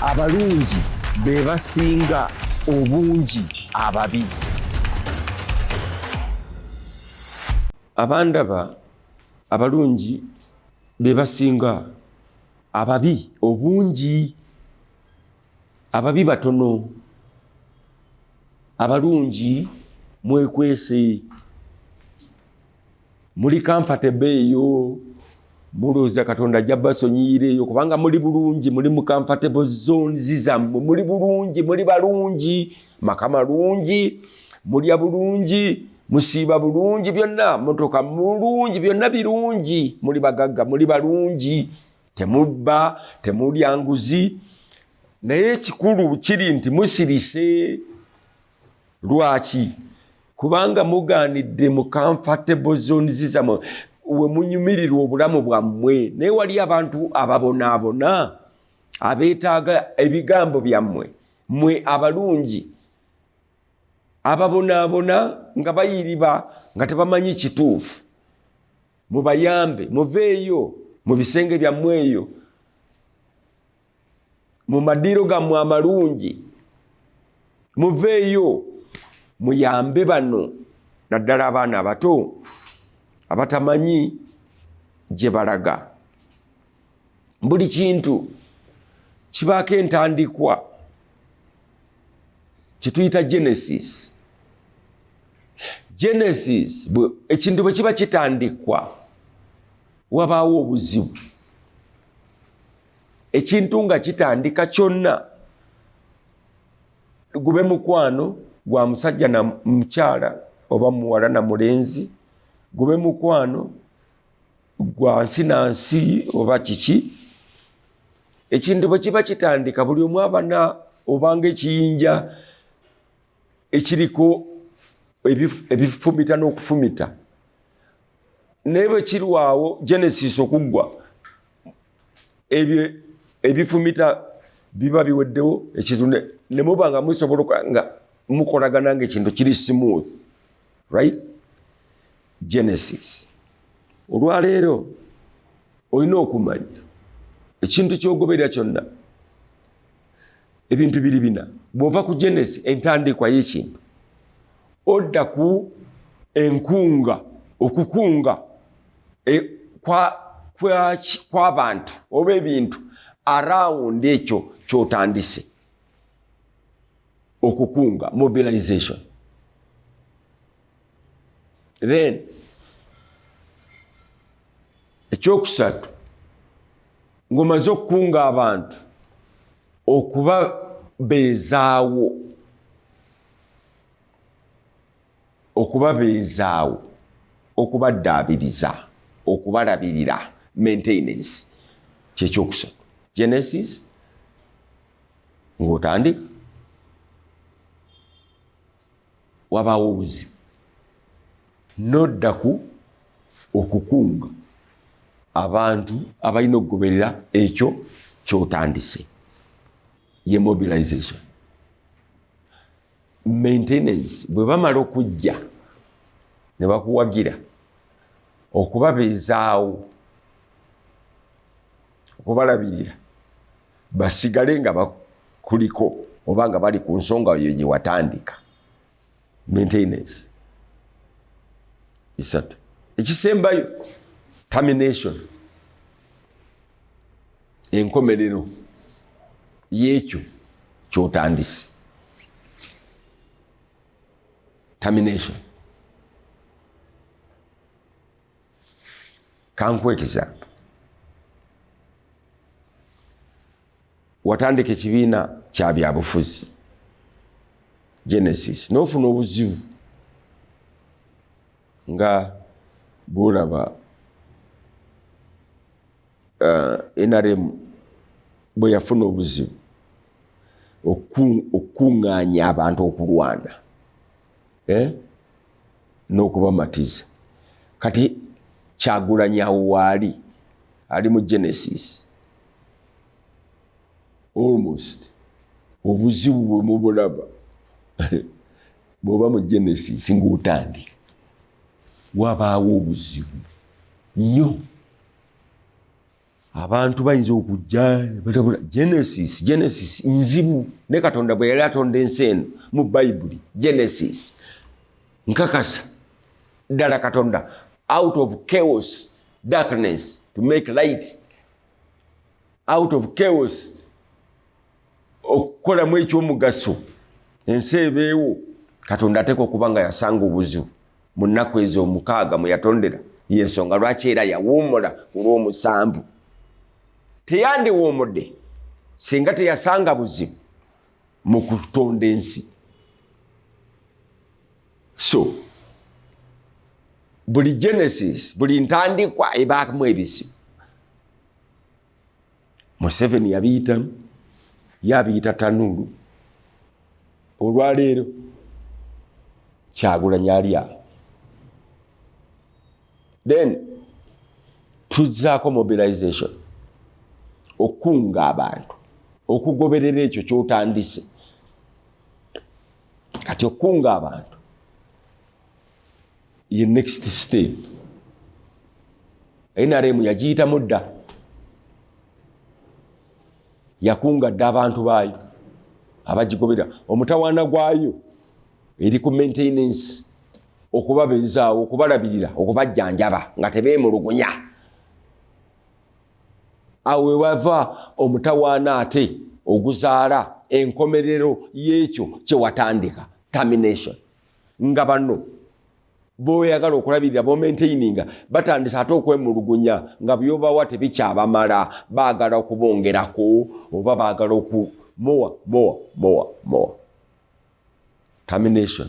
abalungi be basinga obungi ababi abandaba abalungi be basinga ababi obungi ababi batono abalungi mwekwese muli comfortable eyo mulowooza katonda ajja basonyiyira eyo kubanga muli bulungi muli mu comfortable zones zammwe muli bulungi muli balungi maka malungi mulya bulungi musiiba bulungi byonna motoka mulungi byonna birungi muli bagagga muli balungi temubba temulya nguzi naye ekikulu kiri nti musirise lwaki kubanga mugaanidde mu comfortable zones zamwe we munyumirirwa obulamu bwammwe naye wali abantu ababonaabona abeetaaga ebigambo byammwe mwe abalungi ababonaabona nga bayiriba nga tebamanyi kituufu mubayambe muveeyo mu bisenge byammwe eyo mu madiiro gammwe amalungi muveeyo muyambe bano naddala abaana abato abatamanyi gye balaga buli kintu kibaako entandikwa kyetuyita genesis genesis ekintu bwe kiba kitandikwa wabaawo obuzibu ekintu nga kitandika kyonna gube mukwano gwa musajja na mukyala oba muwala na mulenzi gube mukwano gwa nsi na nsi oba kiki ekintu bwe kiba kitandika buli omu abana obanga ekiyinja ekiriko ebifumita n'okufumita naye bwe kirwawo genesis okuggwa ebyo ebifumita biba biweddewo ekintu ne muba nga musobola nga mukolagana nga ekintu kiri smooth right genesis olwaleero olina okumanya ekintu kyogoberera kyonna ebintu biri bina bwova ku genesi entandikwa yekintu odda ku enkunga okukunga e, kw'abantu kwa, kwa oba ebintu arawundi ekyo kyotandise okukunga mobilization then ekyokusatu ngomaze okukunga abantu okuba bezaawo okubabeezaawo okubaddaabiriza okubalabirira maintenance kyekyokusatu genesis ngaotandika wabaawo obuzibu nodda ku okukunga abantu abalina okugoberera ekyo kyotandise ye mobilization maintenance bwe bamala okujja ne bakuwagira okubabeezaawo okubalabirira basigale nga bakuliko oba nga bali ku nsonga oyo gye watandika maintenance isatu ekisembayo termination enkomerero yekyo kyotandise termination kankuwa ekisambo watandika ekibiina kyabyabufuzi genesis nofuna obuzibu nga bwolaba uh, eh, nrm bwe yafuna obuzibu okukuŋŋaanya abantu okulwana eh? n'okubamatiza kati kyagulanyi awo waali ali mu genesis almost obuzibu bwe mubulaba bwoba mu genesis ngaotandika wabaawo obuzibu nnyo abantu bayinza okujja batabula genesis genesis nzibu ne katonda bwe yali atonda ensi eno mu bayibuli genesis nkakasa ddala katonda out of chaos darkness to make light out of chaos okukolamu ekyomugaso ensi ebeewo katonda ateeka okuba nga yasanga obuzibu mu nnaku ezo omukaaga mwe yatondera yensonga lwaki era yawuumula ku lw'omusanvu teyandiwuumudde singa teyasanga buzibu mu kutonda ensi so buli genesis buli ntandikwa ebaamu ebizibu museveni yabiyitamu yabiyita tanuulu olwaleero kyagulanyi ali awo then tuzzaako mobilization okukunga abantu okugoberera ekyo kyotandise kati okukunga abantu ye next step nrm yagiyitamu dda yakunga dda abantu baayo abagigobera omutawaana gwayo eri ku maintenance okubabeezaawo okubalabirira okubajjanjaba nga tebeemulugunya awo wewava omutawaana ate oguzaala enkomerero y'ekyo kyewatandika termination nga bano boyagala okulabirira bomaintaininga batandise ate okwemulugunya nga byobawa tebikyabamala bagala okubongerako oba bagala oku moa moa moa moa termination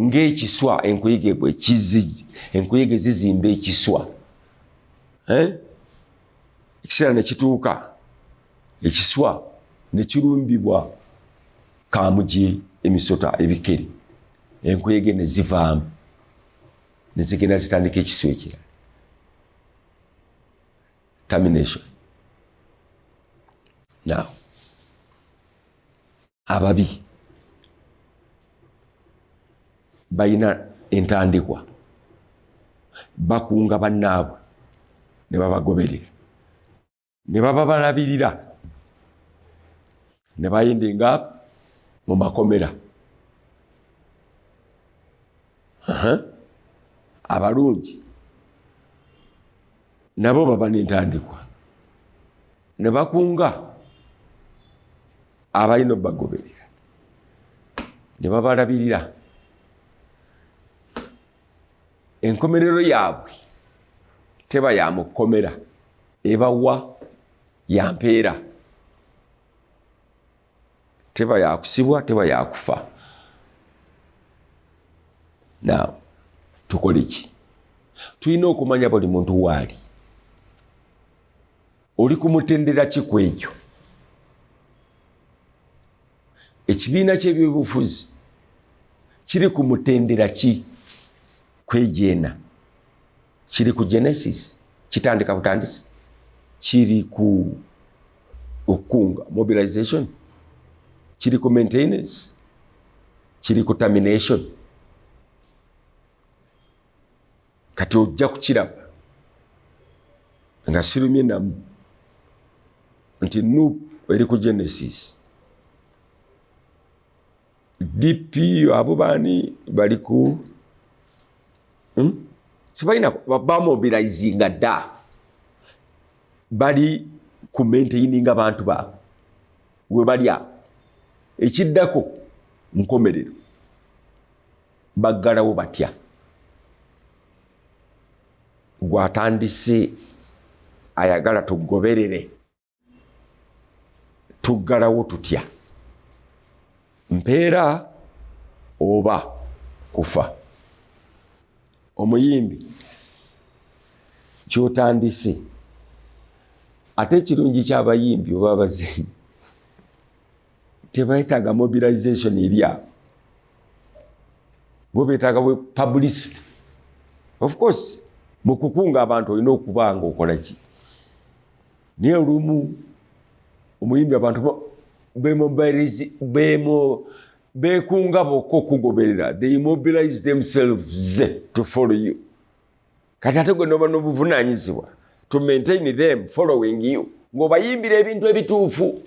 ngaekiswa enkuyege bwekizi enkuyege zizimba ekiswa eh? ekiseera ne kituuka ekiswa ne kirumbibwa kaamuje emisota ebikere enkuyege ne zivaamu ne zigenda zitandika ekiswa ekirala termination now ababi balina entandikwa bakunga bannaabwe ne babagoberera ne baba balabirira ne bayinde nga mu makomera abalungi nabo baba nentandikwa ne bakunga abalina obagoberera ne babalabirira enkomerero yaabwe teba ya mu kkomera ebawa yampeera teba yakusibwa teba yakufa now tukole ki tulina okumanya buli muntu waali oli kumutendera ki ku ekyo ekibiina kyebyobufuzi kiri ku mutendera ki kwejeena kiri ku genesis kitandika butandisi kiri ku okukunga mobilization kiri ku maintenance kiri ku termination kati ojja kukiraba nga sirumye namu nti nup eri ku genesis DP abo bani bali ku hmm? sibalina bamobilizinga dda bali ku maintayininga bantu baabwe we bali awo ekiddako nkomerero baggalawo batya gwatandise ayagala tugoberere tuggalawo tutya mpeera oba kufa omuyimbi kyotandise ate ekirungi kyabayimbi oba abazeyi tebayetaaga mobilization eryabo bo betaaga publicity of course mukukunga abantu olina okuba nga okolaki naye olumu omuyimbi abantu bekunga bokka okugoberera they mobilize themselves to follow you kati ate gwe noba nobuvunanyizibwa to maintain them following you ngaobayimbira ebintu ebituufu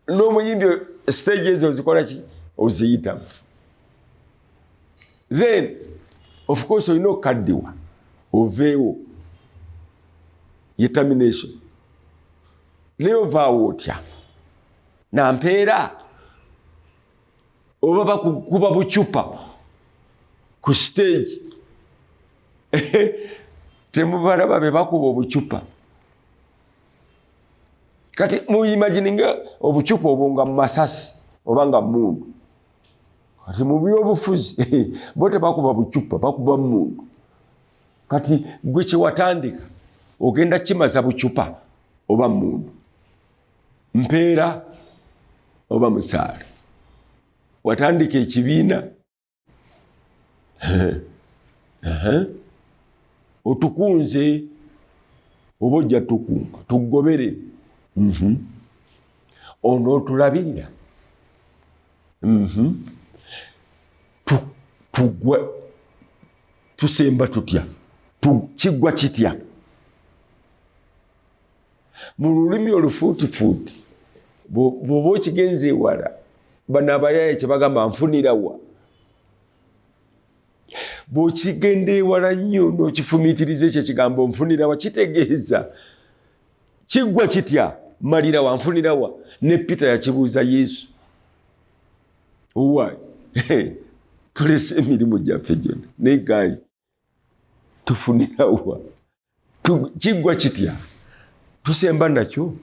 n'omuyimbi stage ezo ozikola ki oziyitamu then of course olina okukaddiwa oveewo ye termination naye ovaawo otya nampeera oba bakukuba bucupa ku stage temubalaba bebakuba obucupa kati muimagininga obucupa obwo nga masasi oba nga mundu kati mubyobufuzi bo tebakuba bucupa bakuba mundu kati gwe kyewatandika ogenda kimaza bucupa oba mundu mpeera oba musaala watandika ekibiina otukunze oba ojja tukunga tugoberere mhm. ono otulabirira mhm. tugwa tusemba tutya kiggwa kitya mu lulimi olufuutifuuti bwoba okigenza ewala bano abayaye kyebagamba nfunirawa bwokigenda ewala nnyo nokifumitiriza ekyo ekigambo nfunirawa kitegeeza kiggwa kitya malirawa nfunirawa ne peter yakibuuza yesu owaye tulese emirimu gyaffe gyona naye gayi tufunira wa kiggwa kitya tusemba nakyo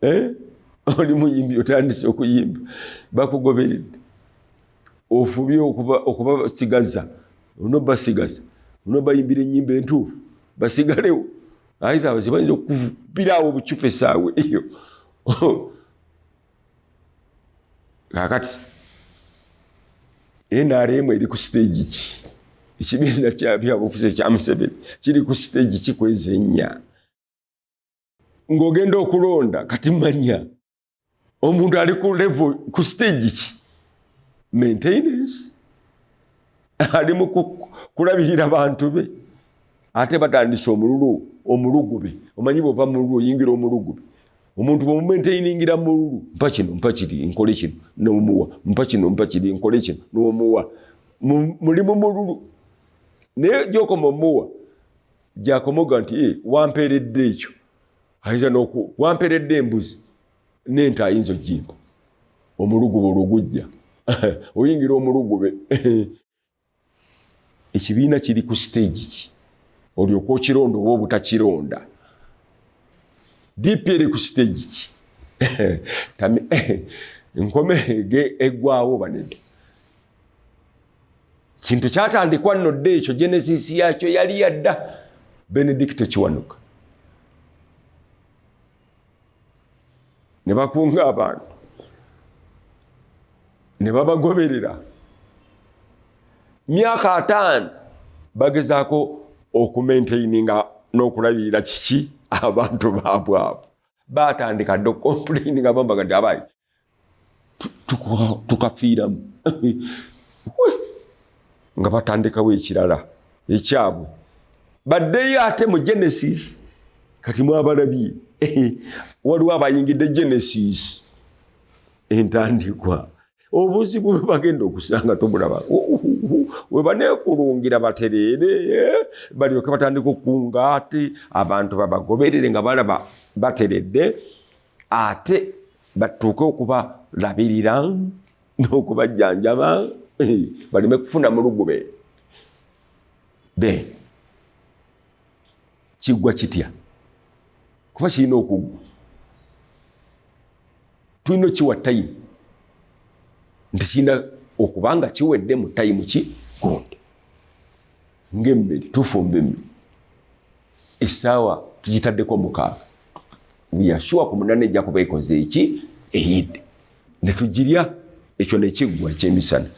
eh? oli muyimbi otandise okuyimba bakugoberedde ofubye okubasigaza ono basigaza ono bayimbira enyimba entuufu basigalewo aitha zibayinza okukupirawo obucupa esaawa eyo kakati nrm eri ku siteegi ki ekibiina kyabyabufuzi ekya museveni kiri ku siteegi ki kwezi ennya ng'ogenda okulonda kati manya omuntu ali ku levo ku siteegi ki maintenance ali mu kulabirira bantu be ate batandise omululu omulugube omanyi bwova mululu oyingira omulugube omuntu bwemumenteiningira mululu mpa kino mpa kiri nkole kino nomuwa mpa kino mpa kiri nkole kino nomuwa mulimu mululu naye gyokoma omuwa gyakomoga nti eh, wampeeredde ekyo ayinza noku wampeeredde embuzi nente ayinza ojimpa omulugube olwogujja oyingira omulugube ekibiina kiri ku stage ki olyoka okironda oba obutakironda dp eri ku stage ki nkome egwawo banene kintu kyatandikwa nno dda ekyo genesis yakyo yali yadda benedicto kiwanuka ne bakunga abantu ne babagoberera myaka ataano bagezaako okumaintaininga n'okulabirira kiki abantu baabwe abo baatandika dde okompulayini nga bambaga nti abayi tukafiiramu nga batandikawo ekirala ekyabwe baddeyo ate mu genesis kati mwabalabye waliwo abayingidde genesis entandikwa obuzibu bwebagenda okusanga tobulaba webanekulungira batereere eh, balyoke batandika okukunga ati abantu babagoberere nga balaba bateredde ate batuuke okubalabirira n'okubajjanjaba eh, baleme kufuna mulugube be kiggwa kitya kuba kirina okuggwa tulina okiwa tayimu nti kirina okuba nga kiwedde mu tayimu ki gundi ngaemmere tufumba emmere essaawa tugitaddeko mukaaga we are sure ku munana ejja kuba ekoze eki eyidde ne tugirya ekyo ne kiggwa ekyemisana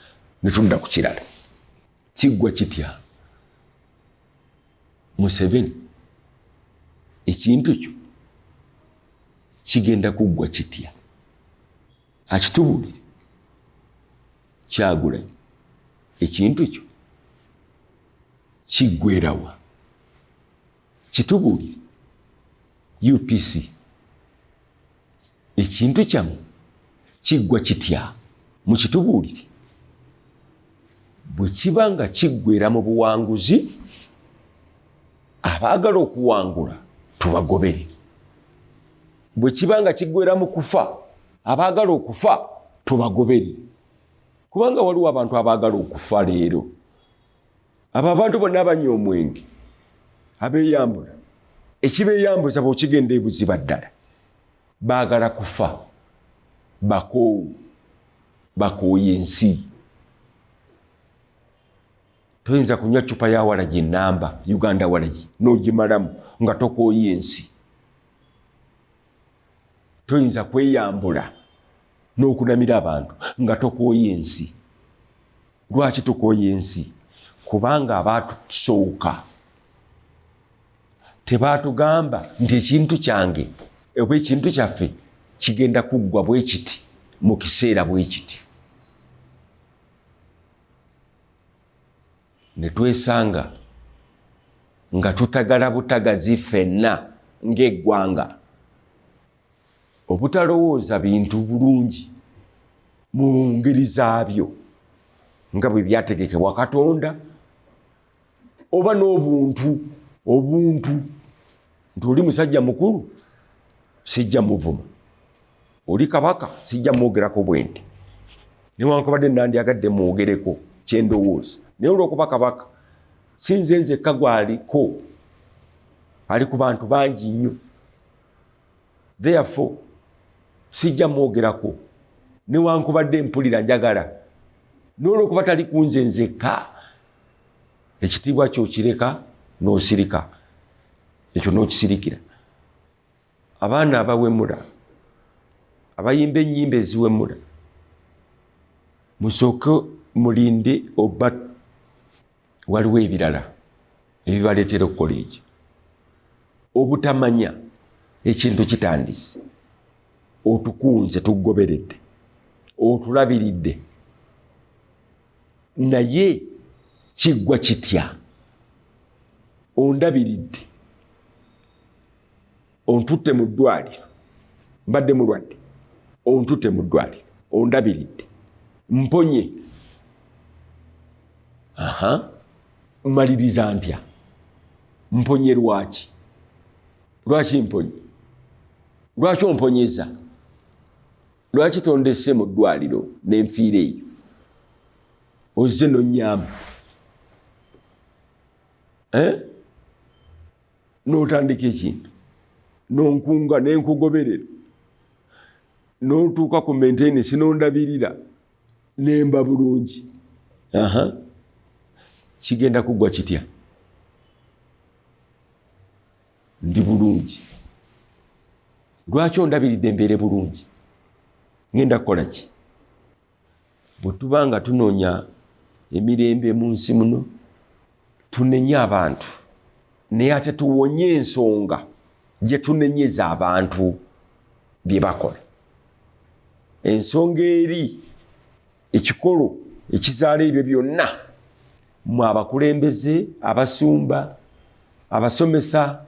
ne tudda ku kirala kiggwa kitya museveni ekintu kyo kigenda kuggwa kitya akitubulire kyagulayo ekintu kyo kiggwerawa Kitubuulire UPC ekintu kyamu kiggwa kitya? Mukitubuulire bwe kiba nga kiggwera mu buwanguzi, abaagala okuwangula tubagobere. Bwe kiba nga kiggwera mu kufa, abaagala okufa tubagobere. Kubanga waliwo abantu abaagala okufa leero abo abantu bonna abanywa omwenge abeyambula ekibeyambuza bwokigenda ebuziba ddala baagala kufa bakoowu bakooye ensi toyinza kunywa cupa ya walagi enamba uganda walagi nogimalamu nga tokooye ensi toyinza kweyambula nokunamira abantu nga tokooye ensi lwaki tukoye ensi kubanga abaatusooka tebaatugamba nti ekintu kyange oba ekintu kyaffe kigenda kuggwa bwe kiti mu kiseera bwe kiti ne twesanga nga tutagala butagazi ffenna ng'eggwanga obutalowooza bintu bulungi mu ngeri zaabyo nga bwe byategekebwa katonda oba n'obuntu obuntu nti oli musajja mukulu sijja muvuma oli kabaka sijja mwogerako bwendi newankubadde nandyagadde mwogereko kyendowooza naye olwokuba kabaka sinze nzekka gwaliko ali ku bantu bangi nnyo therefore sijja mwogerako newankubadde mpulira njagala n'olwokuba tali kunze nzekka ekitiibwa kyokireka n'osirika ekyo n'okisirikira abaana abawemula abayimba ennyimba eziwemula musooke mulinde oba waliwo ebirala ebibaleetera okukola ekyo obutamanya ekintu kitandise otukunze tugoberedde otulabiridde naye kiggwa kitya ondabiridde ontutte mu ddwaliro mbadde mulwadde ontutte mu ddwaliro ondabiridde mponye aha mmaliriza ntya mponye lwaki lwaki mponye lwaki omponyeza lwaki tondese mu ddwaliro nenfiira eyo ozze nonyamba eh? n'otandika ekintu nonkunga nenkugoberera notuuka ku maintenance nondabirira nemba bulungi aha kigenda kuggwa kitya ndi bulungi lwaki ondabiridde mbeere bulungi ngenda kukola ki bwe tuba nga tunoonya emirembe mu nsi muno tunenye abantu naye ate tuwonye ensonga gye tunenyeza abantu bye bakola ensonga eri ekikolo ekizaala ebyo byonna mu abakulembeze abasumba abasomesa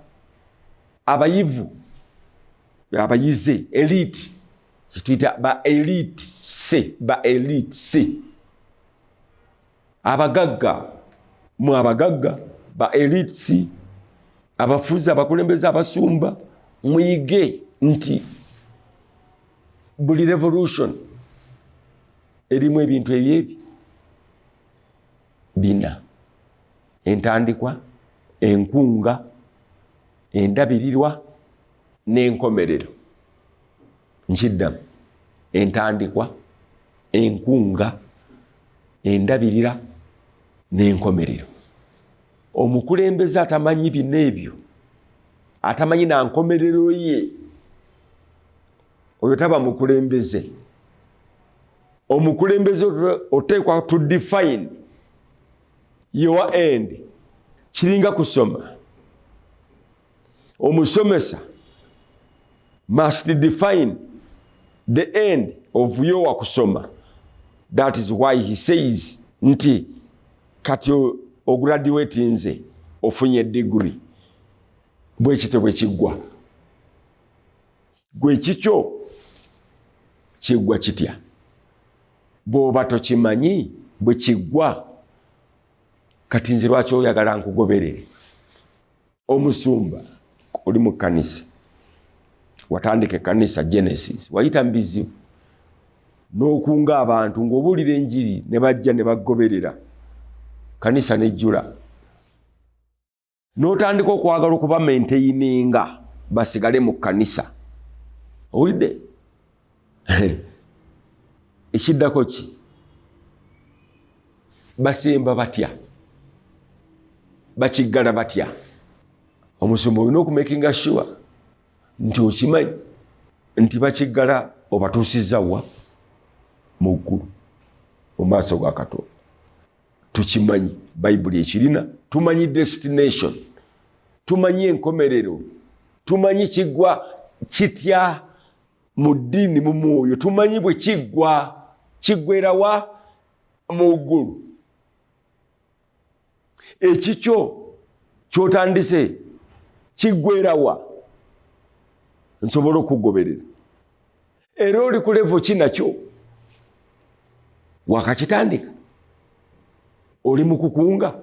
abayivu abayize elite kyetuyita ba elite se ba elite se abagagga mu abagagga ba elite si abafuzi abakulembeze abasumba muyige nti buli revolution erimu ebintu ebyebi bina entandikwa enkunga endabirirwa n'enkomerero nkiddamu entandikwa enkunga endabirira n'enkomerero omukulembeze atamanyi bino ebyo atamanyi na nkomerero ye oyo taba mukulembeze omukulembeze oteekwa to define your end kiringa kusoma omusomesa must define the end of your kusoma that is why he says nti kati ograduate nze ofunye degree bwekityo bwekiggwa gwe kikyo kiggwa kitya bwoba tokimanyi bwekiggwa kati nze lwaki oyagala nkugoberere omusumba oli mu kanisa watandika ekanisa genesis wayita mubizibu n'okunga abantu ng'obuulira enjiri ne bajja ne bagoberera kanisa nejjula n'otandika okwagala okuba menteyininga basigale mu kanisa owulidde ekiddako ki basemba batya bakiggala batya omusumba olina okumakinga sure nti okimanyi nti bakiggala obatuusizza wa mu ggulu mu maaso ga katonda tukimanyi bayibuli ekirina tumanyi destination tumanyi enkomerero tumanyi kigwa kitya mu ddiini mu mwoyo tumanyi bwe kiggwa kiggwerawa mu ggulu ekikyo kyotandise kiggwerawa nsobola okugoberera era oli ku levo ki nakyo wakakitandika oli mu kukunga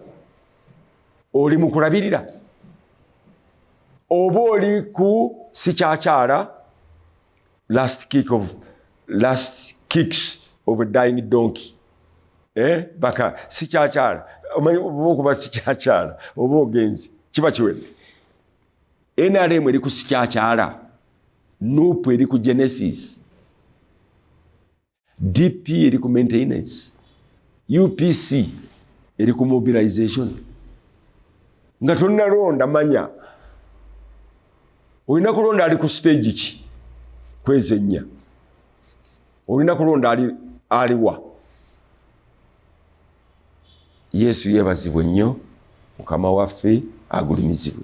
oli mukulabirira oba oli ku sikyakyala last kick of last kicks of a dying donkey eh baka sikyakyala omanyi okuba sikyakyala oba ogenzi kiba kiwedde nrm eri ku sikyakyala nupu eri ku genesis DP eri ku maintenance, UPC eri ku mobilization. Nga tonnalonda manya olina kulonda ali ku stage ki kwezi ennya, olina kulonda ali aliwa. Yesu yebazibwe nnyo, mukama waffe agulumizibwe.